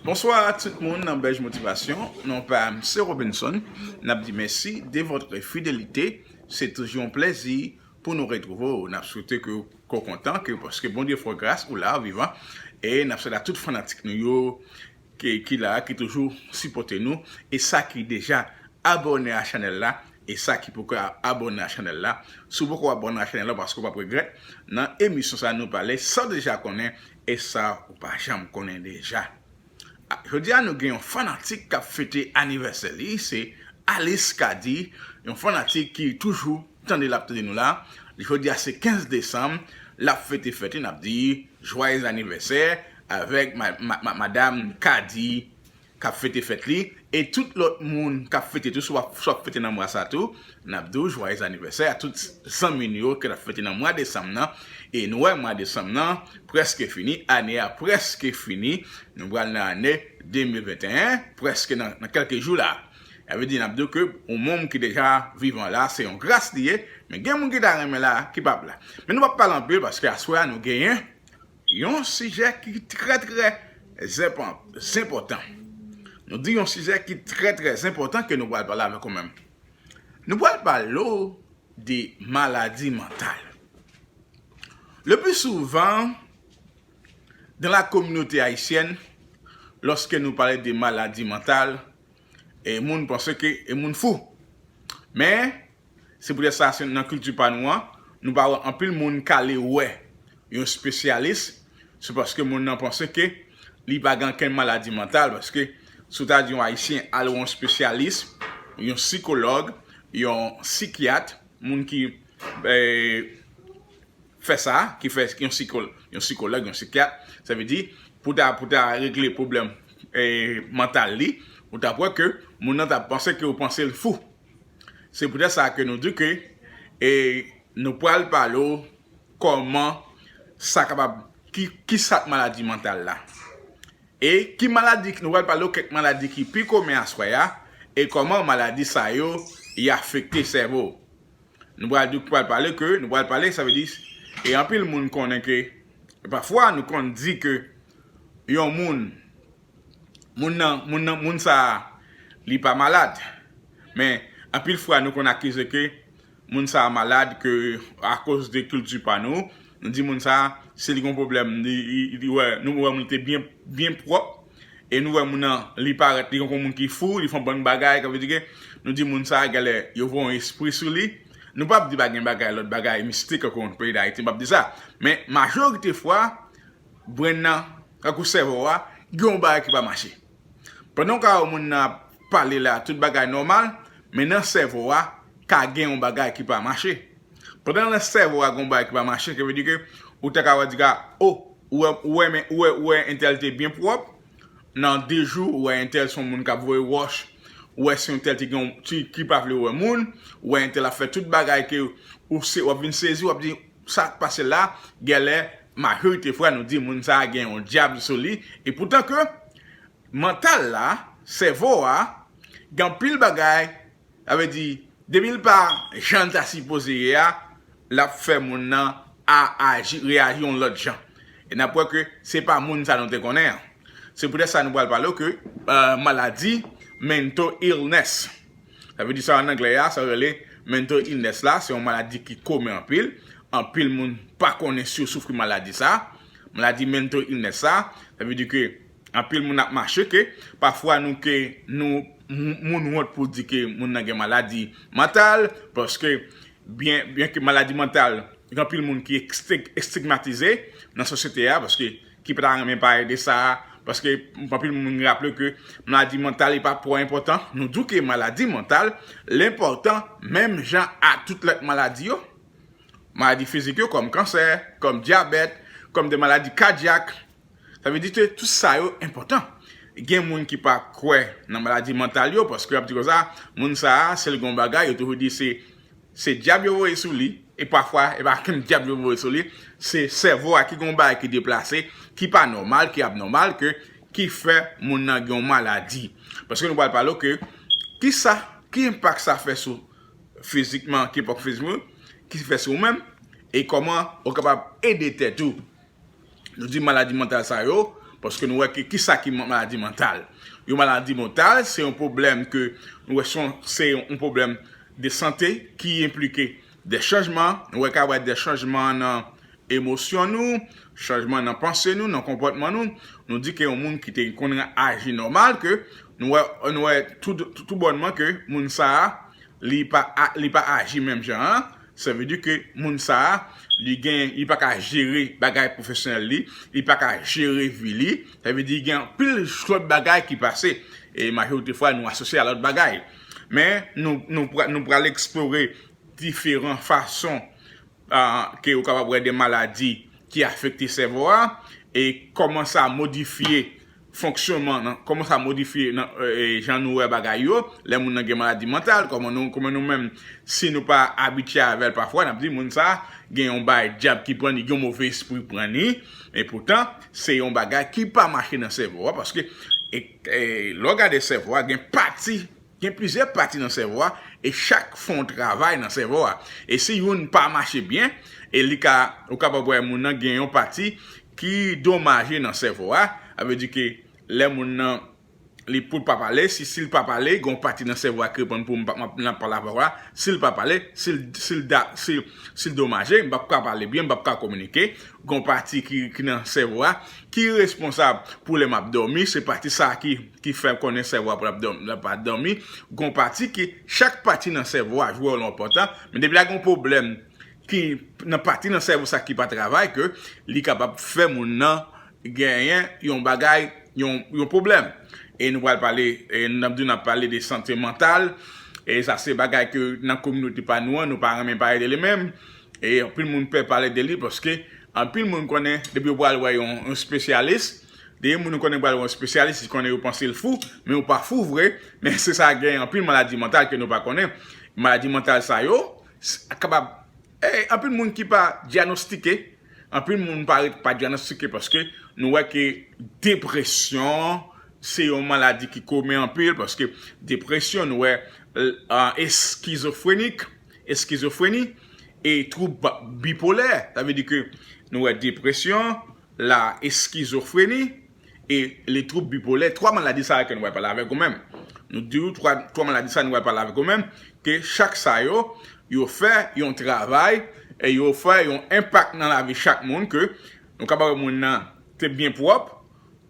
Bonswa tout moun nan bèj motivasyon non pam se Robinson nap di mèsi de votre fidelite se toujou yon plèzi pou nou retrouve w nap swete ke ou kontan ke paske Bondye fè w gras ou la ou vivan e nap swete a tout fanatik nou yo ki la ki toujou sipote nou e sa ki deja abòne a chanèl la e sa ki poko abòne a chanèl la si w poko abòne a chanèl la paske w pap regrèt nan emisyon sa nou pale san deja konnen E sa ou pa janm konnen deja. Jodi a nou gen yon fanatik kap fete anivèsè li, se Alice Cady, yon fanatik ki toujou tande lap tande nou la, jodi a se 15 desanm lap fete fèt li nap di jwayez anivèsè avèk madam Cady k ap fete fèt li e tout lòt moun k ap fete tou, si w ap si w ap fete nan mwa sa tou, n ap di w jwayèz anivèsè a tout zanmi n yo ke n ap fete nan mwa desanm nan e nou wè mwa desanm nan prèske fini, ane a prèske fini, nou pral nan ane 2021 prèske nan nan kèlke jou la a vle di n ap di w ke yon moun ki deja vivan la se yon gras li ye men gen moun ki ta renmen la ki p ap la men nou p ap pale anpil paske aswè a nou genyen Yon sijè ki trè trè zenpòtan. Nou di yon sijè ki trè trè zenpòtan ke nou pral pale avèk ou menm. Nou pral pale ou de maladi mantal. Le pli souvan, dan la kominote ayisyèn, lòske nou pale de maladi mantal, e moun panse ke e moun fou. Men, Se poutèt sa, nan kilti pa nou an, nou pa wè anpil moun k ale wè yon spesyalis, se paske moun nan panse ke li pa gen ankenn maladi mantal, paske si w ta di yon Ayisyen al wè yon spesyalis, yon sikològ, yon sikyat, moun ki fè sa, ki fè yon sikològ, yon sikyat, sa vle di, pou ta pou ta regle pwoblèm mantal li, ou t ap wè ke moun nan t ap panse ke ou panse l fou. Se poutèt sa ke nou di ke e nou pral pale w kòman sa kapab ki kisa k maladi mantal la e ki maladi nou pral pale w kèk maladi ki pi komen aswè a e kòman maladi sa yo y afekte sèvo w. Nou pral di pral pale ke nou pral pale sa vle di e anpil moun konnen ke pafwa nou konn di ke yon moun Moun nan, moun nan, moun sa a li pa malad. Men, anpil fwa nou konn akize ke moun sa a malad ke akoz de kilti pa nou, nou di moun sa a si li gen yon pwoblèm li wè, nou wè moun li te byen, byen pwòp e nou wè moun nan li parèt li tankou yon moun ki fou, li fè yon bann bagay sa vle di ke nou di moun sa a genlè yo voye yon espri sou li. Nou pap di pa gen bagay, lòt bagay mistik ke nou konn nan peyi Dayiti, m pap di sa. Men, majorite fwa, Brenn nan, tankou sèvo a, gen yon bagay ki pa mache. Pandan w ka wè moun nan ap pale la, tout bagay nòmal, men nan sèvo a, ka gen yon bagay ki pa mache. Pandan nan sèvo a gen yon bagay ki pa mache, sa vle di ke ou ta ka wè diga, o, ou wè men, ou wè, ou wè entèl te byen pwòp, nan de jou, ou wè entèl se yon moun k'ap voye wòch, ou wè se yon entèl te gen yon, ki pa vle wè moun, ou wè entèl ap fè tout bagay ke ou se, w'ap vin sezi, w'ap di, Sak pase la gèlè majorite fwa nou di moun sa gen yon dyab sou li e poutan ke mantal la, sèvo a gen anpil bagay sa vle di depi l pa jan l ta sipoze ye a l ap fè moun nan a aji reyaji yon lòt jan e n ap wè ke se pa moun sa nou te konnen an se poutèt sa nou pral pale w ke maladi mental illness. Sa vle di sa an anglè a, sa yo rele mental illness la, se yon maladi ki komen anpil, anpil moun pa konnen si yo soufri maladi sa, maladi mental illness sa, sa vle di ke anpil moun ap mache ke pafwa nou ke nou moun wont pou di ke moun nan gen maladi mantal, paske byen byen ke maladi mantal gen anpil moun ki estigmatize nan sosyete a, paske. ki pa ta renmen pale de sa, paske anpil moun raple ke maladi mantal li pa twò enpòtan, nou di w ke maladi mantal l enpòtan menm jan a tout lòt maladi yo, maladi fizik yo kòm kansè, kòm dyabèt, kòm de maladi kadyak, sa vle di ke tout sa yo enpòtan. Gen moun ki pa kwè nan maladi mantal yo, paske y ap di konsa, moun sa a si l gen yon bagay yo toujou di se Se dyab yo voye sou li, e pafwa e pa menm dyab yo voye sou li, se sèvo a ki gen yon bagay ki deplase, ki pa nòmal, ki abnòmal ke ki fè moun nan gen yon maladi. Paske nou pral pale w ke ki sa, ki enpak sa fè sou fizikman, ki enpak fizikman, ki fè sou ou menm, e kòman ou kapab ede tèt ou. Nou di maladi mantal sa yo, paske nou wè ki sa ki maladi mantal. Yon maladi mantal, se yon pwoblèm ke nou wè son, se yon pwoblèm de sante ki enplike de chanjman, nou wè ka wè de chanjman nan emosyon nou, chanjman nan panse nou, nan konpòtman nou, nou di ke yon moun ki te konn aji nòmal ke nou wè, nou wè tou bònman ke moun sa a, li pa aji menm jan an, Sa vle di ke moun sa a, li gen, li pa ka jere bagay pwofesyonèl li, li pa ka jere vi li, sa vle di gen anpil lòt bagay ki pase, e majorite fwa nou asosye a lòt bagay. Men, nou pral eksplore diferan fason ke ou kapab wè de maladi ki afekte sèvo a, e kòman sa modifye fonksyonman nan, kòman sa modifye nan jan nou wè bagay yo, lè moun nan gen maladi mantal, kòman nou, kòman nou menm si nou pa abitye avèl pafwa nap di moun sa gen yon bay dyab ki pran ni, gen yon move espri pran ni, e poutan se yon bagay ki pa mache nan sèvo a paske lè w gade sèvo a gen pati Gen plizyè pati nan sèvo a e chak fon travay nan sèvo a. E si youn pa mache byen, e li ka, ou kapab wè moun nan gen yon pati ki domaje nan sèvo a, sa vle di ke lè moun nan li pou l pa pale, si si l pa pale, gen yon pati nan sèvo a ki reponn pou m pa m ap pale avè w la, si l pa pale, si l si l da si l si l domaje, m p ap ka pale byen, m p ap ka kominike. Gen yon pati ki ki nan sèvo a ki responsab pou lè m ap dòmi, se pati sa a ki ki fè konnen sèvo a pap dòmi, la pa dòmi, gon pati ki, chak pati nan sèvo a jwe wòl enpòtan, men depi la gen yon pwoblèm ki nan pati nan sèvo sa ki pa travay ke li kapab fè moun nan genyen yon bagay, yon pwoblèm. E nou pral pale, n ap di w n ap pale de sante mantal, e sa se bagay ke nan kominote pa nou an nou pa renmen pale de li menm, e anpil moun pè pale de li paske anpil moun konnen depi yo pral wè yon espesyalis, Gen moun ou konnen pral wè yon spesyalis, li konnen yo panse l fou, men yo pa fou vre, men se sa gen anpil maladi mantal ke nou pa konnen. Maladi mantal sa yo kapab anpil moun ki pa dyanostike, anpil moun pa ret pa dyanostike paske nou wè ke depresyon se yon maladi ki komen anpil paske depresyon nou wè eskizofrenik, eskizofreni e twoub bipolè, sa vle di ke nou wè depresyon. la eskizofreni e le twoub bipolè, 3 maladi sa yo ke nou pral pale avèk ou menm. Nou di ou 3 maladi sa yo nou pral pale avèk ou menm, ke chak sa yo, yo fè yon travay e yo fè yon enpak nan lavi chak moun ke nou kapab wè moun nan te byen pwòp,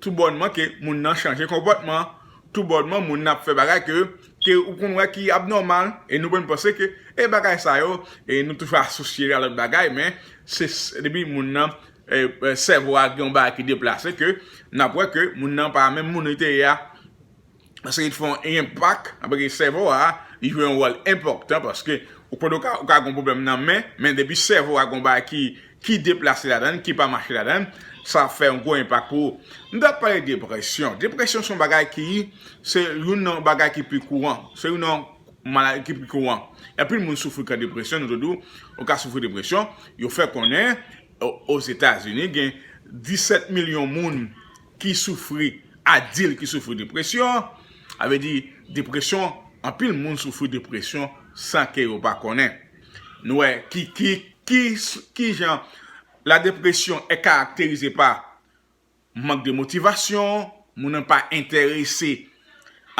tou bònman ke moun nan chanje konpòtman, tou bònman moun nan ap fè bagay ke ke ou konn wè ki abnòmal e nou menm panse ke e bagay sa yo e nou toujou asosye yo a lòt bagay men se depi moun nan sèvo a gen yon bagay ki deplase ke n ap wè ke moun nan pa menm moun li te ye a. Paske li te fè yon enpak, anpè ke sèvo a, li jwe yon wòl enpòtan paske ou konnen ou ka gen yon pwoblèm nan men, men depi sèvo a gen yon bagay ki deplase ladan l, ki pa mache ladan l, sa ap fè yon gwo enpak pou ou. Nou ta pale depresyon. Depresyon se yon bagay ki, se youn nan bagay ki pi kouran. Se youn nan Maladi ki pi kouran. Anpil moun soufri ka depresyon, nou te di w, ou ka soufri depresyon. Yo fè konnen Ozetazini gen 17 milyon moun ki soufri, adil ki soufri depresyon. Sa vle di depresyon, anpil moun soufri depresyon san ke yo pa konnen. Nou wè ki, ki, ki, ki jan la depresyon e karakterize pa. mank de motivasyon, moun nan pa entèrese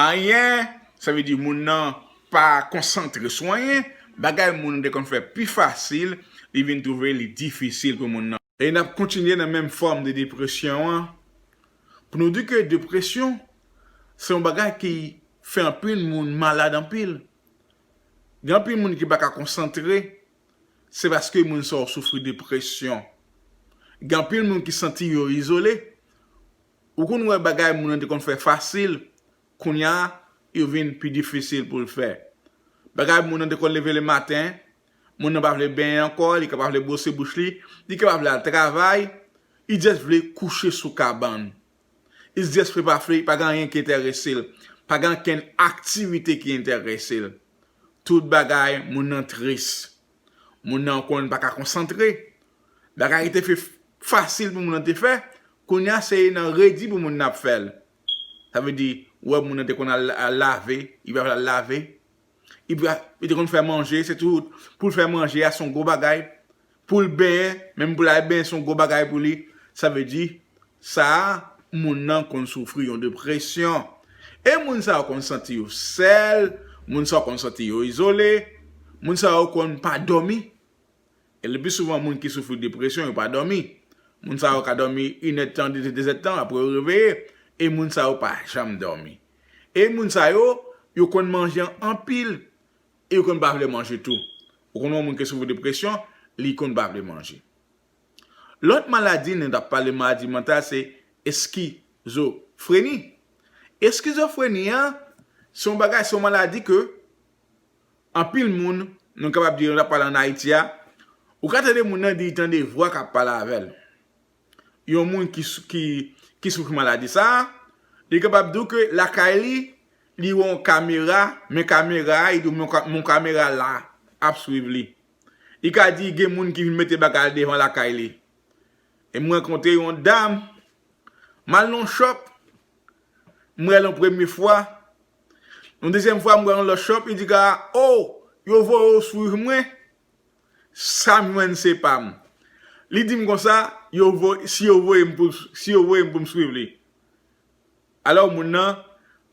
anyen, sa vle di moun nan pa konsantre sou anyen, bagay moun nan te konn fè pi fasil, li vin twouve li difisil pou moun nan. E n ap kontinye nan menm fòm de depresyon an, pou nou di ke depresyon se yon bagay ki fè anpil moun malad anpil. Gen anpil moun ki pa ka konsantre, se paske moun sa yo soufri depresyon. Gen anpil moun ki santi yo izole, ou konn wè bagay moun nan te konn fè fasil, kounya yo vin pi difisil pou l fè. Bagay moun nan te konn leve le maten, moun nan pa vle benyen ankò, li ka pa vle bwose bouch li, li ka pa vle al travay, li just vle kouche sou kabann. Isdries fle pa fle, pa gen anyen ki enterese l. Pa gen ankenn aktivite ki enterese l. Tout bagay moun nan tris. Moun nan konn pa ka konsantre. Bagay ki te fle fasil pou moun nan te fè, kounye a se nan redi pou moun nan ap fè l. Sa vle di, ou wè moun nan te konn al lave, li pa vle al lave. Ibra li te konn fè manje se tou poul fè manje a son gwo bagay poul benyen menm poul al benyen son gwo bagay pou li sa vle di sa moun nan konn soufri yon depresyon e moun sa yo konn santi yo sèl moun sa yo konn santi yo izole moun sa yo konn pa dòmi. E lepi souvan moun ki soufri depresyon yo pa dòmi. Moun sa yo ka dòmi inèdtan, dezèdtan apre yo reveye. E moun sa yo pa janm dòmi. E moun sa yo, yo konn manje an anpil. E yo konn pa vle manje tou. Ou konn wè yon moun ki soufri depresyon, li konn pa vle manje. Lòt maladi nou tap pale maladi mantal se eskizofreni. Eskizofreni an, se yon bagay, se yon maladi ke. Anpil moun, nou kapab di lè nap pale an Ayiti a, ou ka tande moun nan di tande vwa kap pale avèl. Yon moun ki soufri maladi sa, li kapab di w ke lakay li, li wè yon kamera, men kamera a, li di w men yon kamera la ap swiv li. Li ka di gen moun ki vin mete bagay devan lakay li. E m rankontre yon dam, m al nan yon shop, m wè l yon premye fwa, Yon dezyèm fwa m wè yon lòt shop li di ka oh yo voye w swiv mwen sa m jwenn se pa m li di m konsa yo voye si yo voye m pou si yo voye m pou m swiv li alò moun nan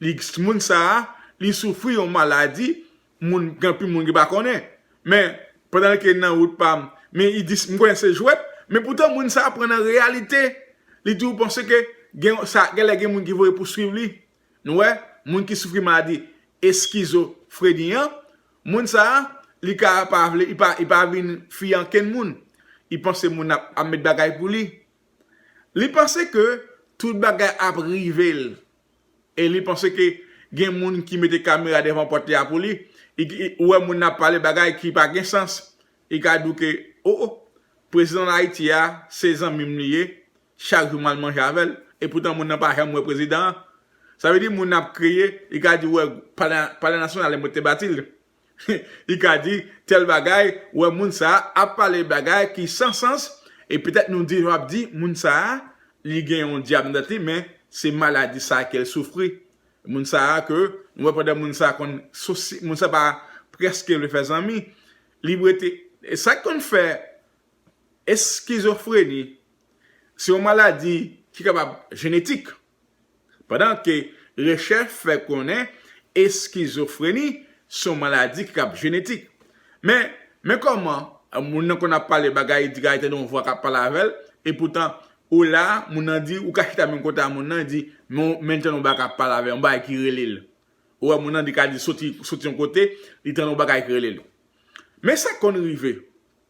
li moun sa li soufri yon maladi moun gen anpil moun ki pa konnen men pandan ke nan wout pa m men li di m konnen se jwèt men poutan moun sa pran nan reyalite li di ou panse ke gen sa genlè gen moun ki voye pou swiv li Nou wè, moun ki soufri maladi eskizofreni an, moun sa a, li ka pa vle, li pa, li pa vin fiye ankenn moun. Li panse moun ap, ap met bagay pou li. Li panse ke tout bagay ap rive l. E li panse ke gen moun ki mete kamera devan pòt li a pou li. Ou wè moun nan ap pale bagay ki pa gen sans. Li ka di w ke, o o, prezidan Ayiti a, se zanmi m li ye. Chak jou mwen al manje avè l. E poutan moun nan pa janm wè prezidan an. Sa vle di moun nan ap kriye, li ka di ou wè palè nasyonal e mwen te bati l. Li ka di tèl bagay, ou wè moun sa a ap pale bagay ki san sans e petèt nou di jan w ap di moun sa a li gen yon dyab nan tèt li men se maladi sa a ke l soufri. Moun sa a ke nou wè pandan moun sa a konn moun sa a pa prèske vle fè zanmi li rete. Sa ki konn fè Eskizofreni se yon maladi ki kapab jenetik, pandan ke rechèch fè konnen eskizofreni se yon maladi ki kab jenetik. Men, men kòman moun nan konn ap pale bagay, di bagay tande yon vwa k ap pale avè l, epoutan ou la, moun nan di, ou ka chita menm kote a moun nan, di, men l tande yon bagay k ap pale avè l, yon bagay ki rele l. Ou wè moun nan li ka di soti yon kote, li tande yon bagay ki rele l. Men sa k konn rive,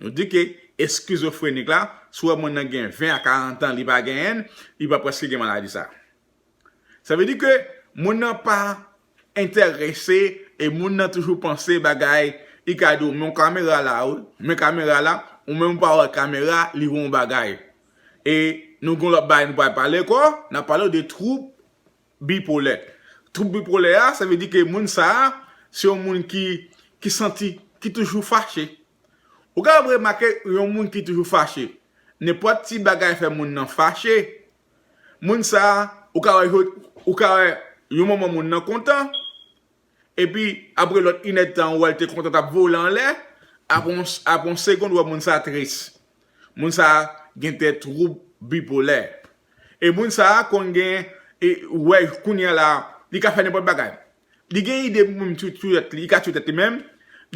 Nou di ke eskizofrenik la, si w wè moun nan gen 20 a 40 an li pa genyen l, li pa prèske gen maladi sa. Sa vle di ke moun nan pa entèrese e moun nan toujou panse bagay, li ka di w men yon kamera la wi, men kamera la, ou menm ou pa wè kamera li wè yon bagay. E nou gen yon lòt bagay nou pral pale ankò, n ap pale w de twoub Bipolè. Twoub bipolè a, sa vle di ke moun sa a, se yon moun ki, ki santi, ki toujou fache. Ou kapab remake yon moun ki toujou fache. Nenpòt ti bagay fè moun nan fache. Moun sa a, ou ka wè, ou ka wè yon moman moun nan kontan. Epi, apre lòt inèdtan an, ou wè l te kontan t ap vole anlè, apre yon segond ou wè moun sa a tris. Moun sa a gen de twoub bipolè. E moun sa a konn gen, ou wè kounye a la, li ka fè nenpòt bagay. Li gen ide pou menm tou touye tèt li, li ka touye tèt li menm,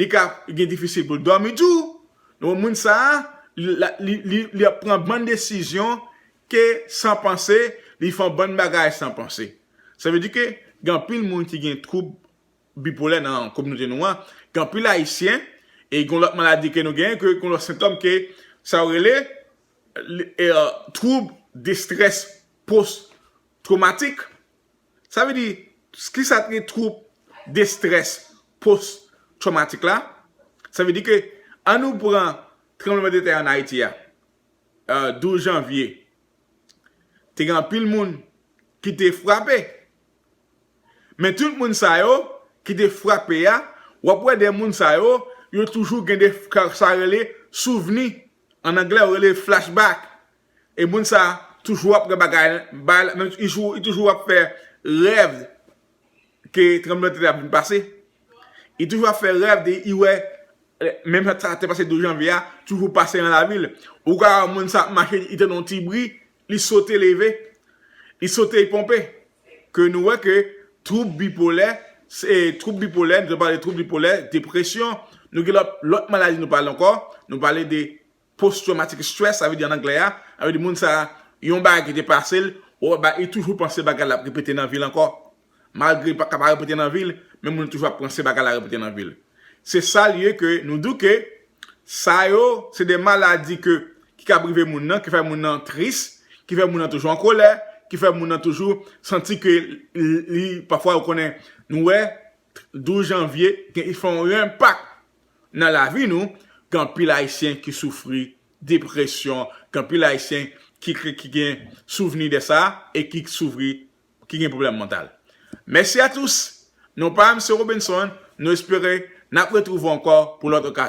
li ka gen difisil pou l dòmi tou. Donk moun sa a, li ap pran bann desizyon ke san panse, li fè yon bann bagay san panse. Sa vle di ke gen anpil moun ki gen twoub bipolè nan kominote nou an, gen anpil ayisyen e gen yon lòt maladi ke nou genyen ke gen yon lòt sentòm ke sa yo rele twoub destrès pos twomatik. Sa vle di kisa ki twoub destrès pos twomatik la? Sa vle di ke an nou pran tranbleman de tè an Ayiti a. 12 janvye, te gen anpil moun ki te frape. Men tout moun sa yo ki te frape a, w ap wè de moun sa yo, yo toujou gen de sa rele souvni, an anglè yo rele flashback. E moun sa toujou ap wè bagay, li toujou ap fè rèv. ke tranbleman tè ap vin pase li toujou ap fè rèv de li wè menm sa ki te pase 12 janvye a toujou pase nan lavi l ou ka wè moun sa ap mache li tande yon ti bri li sote leve li sote li ponpe ke nou wè ke twoub bipolè se twoub bipolè nou te pale twoub bipolè depresyon nou gen lòt maladi nou pale ankò nou pale de Post traumatic stress sa vle di an anglè a, sa vle di moun sa yon bagay ki te pase l, li toujou panse bagay la ap repete nan vi l ankò. Malgre li pa ka pa repete nan vi l, men moun nan toujou ap panse bagay la repete nan vi l. Se sa l ye ke nou di w ke sa yo se de maladi ke ki kab rive moun nan, ki fè moun nan tris, ki fè moun nan toujou an kolè, ki fè moun nan toujou santi ke li pafwa ou konnen nou wè 12 janvye, li fè yon enpak Nan lavi nou, gen anpil Ayisyen ki soufri depresyon, gen anpil Ayisyen ki gen souvni de sa e ki soufri, ki gen pwoblèm mantal. Mèsi a tous! Non pa m se Robinson, nou espere n ap retwouve w ankò pou lòt okazyon.